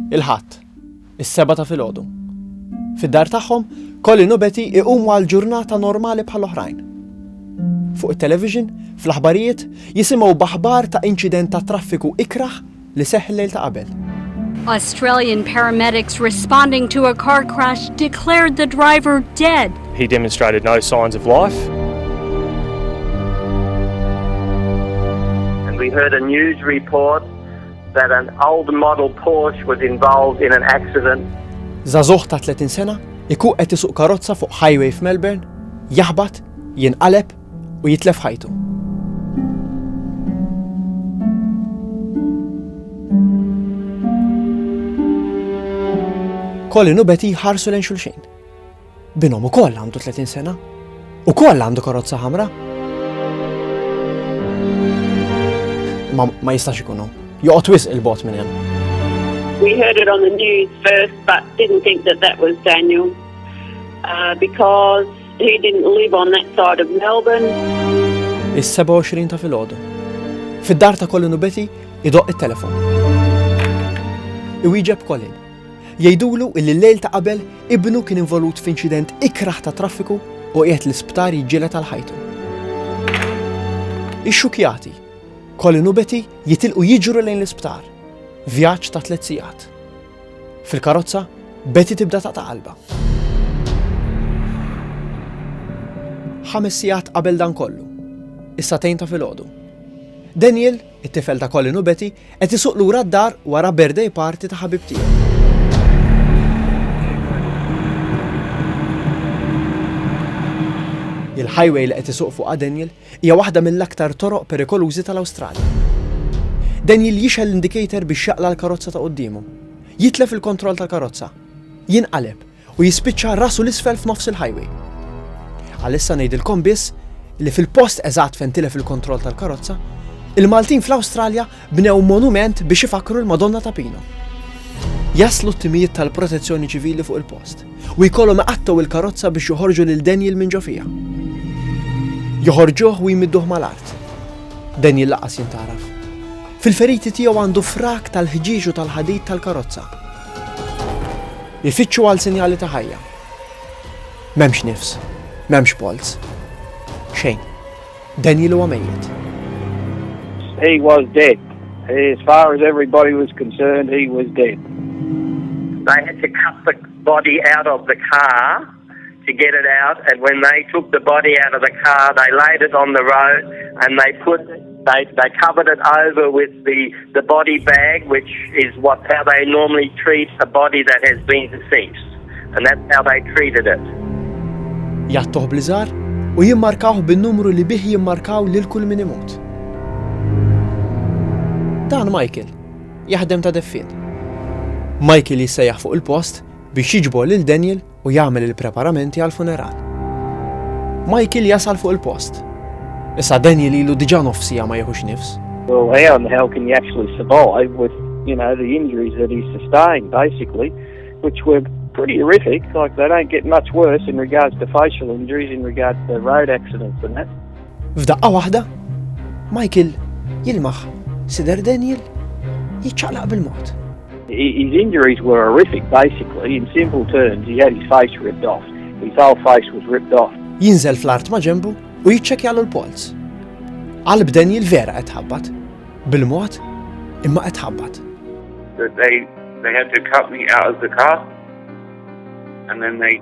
Il-Ħadd, is-sebgħa ta' filgħodu. Fid-dar tagħhom, Colin u Betty iqumu għal ġurnata normali bħal oħrajn. Fuq it-television, fl-aħbarijiet, jisimgħu b'aħbar ta' inċident tat-traffiku ikrah li seħħ il-lejl ta' qabel. Australian paramedics responding to a car crash declared the driver dead. He demonstrated no signs of life. And we heard a news report That an old model Porsche was involved in an accident. Żagħżugħ ta' 30 sena jkun qed isuq karozza fuq highway f'Melbourne, jaħbat, jinqaleb u jitlef ħajtu. Colin u Betty jħarsu lejn xulxin. Binhom ukoll għandu 30 sena. Ukoll għandu karozza ħamra. Ma, ma jistax ikunu. Joqgħod wisq il-bot minn hemm. We heard it on the news first, but didn't think that that was Daniel uh, because he didn't live on that side of Melbourne. Is-27 ta' filgħodu. Fid-dar ta' Colin u Betty idoq it-telefon. Iwieġeb Colin. Jgħidulu illi l-lejl ta' qabel ibnu kien involut f'inċident ikrah ta' traffiku u qiegħed l-isptar jiġġieled għal ħajtu. Ixxukkjati, Colin u Betty jitilqu jiġru lejn l-isptar. Vjaġġ ta' tliet sigħat. Fil-karozza, Betty tibda taqta' qalbha. Ħames sigħat qabel dan kollu. Is-sagħtejn ta' filgħodu. Daniel, It-tifel ta' Colin u Betty qed isuq lura d-dar wara birthday party ta' ħabib tiegħu. Il-highway li qed isuq fuqha Daniel hija waħda mill-aktar toroq perikolużi tal-Awstralja. Daniel jixgħel l-indicator biex jaqla' l-karozza ta' quddiemu. Jitlef il-kontroll tal-karozza. Jinqaleb u jispiċċa rasu 'l isfel f'nofs il-highway. Għalissa ngħidilkom biss li fil-post eżatt fejn tilef il-kontroll tal-karozza, il-Maltin fl-Awstralja bnew monument biex ifakkru l-Madonna ta' Pino. Jaslu t-timijiet tal-protezzjoni ċivili fuq il-post u jkollhom iqattgħu il-karozza biex joħorġu lil Daniel minn ġo fija. Joħorġuh u jmidduh mal-art. Daniel laqas jintaraf. Fil-feriti tiegħu għandu frak tal-ħġieġ u tal-ħadid tal-karozza. Ifittxu għal sinjali ta' ħajja. M'hemmx nifs. M'hemmx polz. Xejn. Daniel huwa mejjet. He was dead. As far as everybody was concerned, he was dead. They had to cut the body out of the car. to get it out and when they took the body out of the car they laid it on the road and they put they they covered it over with the the body bag which is what how they normally treat a body that has been deceased and that's how they treated it. Jattuh bliżar u jimmarkawh bin-numru li bih jimmarkaw lil kull min imut. Dan Michael, jaħdem ta' deffien. Michael jissejjaħ fuq il-post biex jiġbor lil Daniel u jagħmel il-preparamenti għall-funeral. Michael jasal fuq il-post. Issa Daniel ilu diġà nofs siegħa ma jieħux nifs. Well, how in the hell can you actually survive with, you know, the injuries that he sustained, basically, which were pretty horrific. Like, they don't get much worse in regards to facial injuries, in regards to road accidents and that. F'daqqa waħda, Michael jilmaħ sider Daniel jiċċaqlaq bil-mod. His injuries were horrific, basically. In simple terms, he had his face ripped off. His whole face was ripped off. Jinżel fl-art ma ġembu u jiċċekjalu l-polz. Qalb Daniel vera qed ħabbat. Bil-mod, imma qed ħabbat. They, they had to cut me out of the car and then they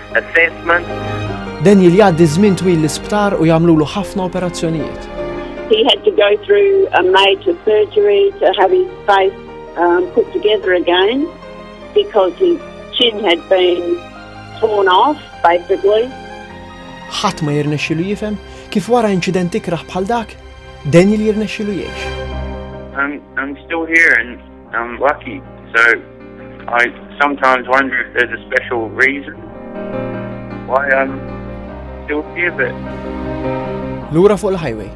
Daniel jgħaddi żmien twil l-isptar u jagħmlulu ħafna operazzjonijiet. He had to go through a major surgery to have his face um, put together again because his chin had been torn off, basically. ħadd ma jirnexxilu jifhem kif wara inċident ikraħ bħal dak, Daniel jirnexxilu jgħix. I'm, I'm still here and I'm lucky, so I sometimes wonder if there's a special reason why I'm still here, but... Lura fuq il-highway.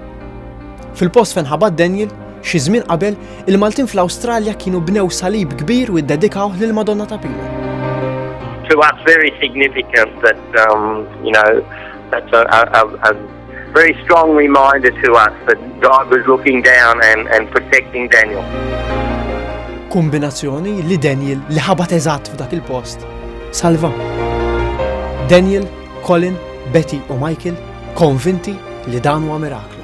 Fil-post fejn ħabat Daniel, xi żmien qabel, il-Maltin fl-Awstralja kienu bnew salib kbir u ddedikaw lil Madonna ta' Pila. To us very significant that um, you know that's a, a, a Very strong reminder to us that God was looking down and, and protecting Daniel. Kombinazzjoni li Daniel li ħabat eżatt f'dak il-post salva. Daniel, Colin, Betty u Michael konvinti li dan huwa miraklu.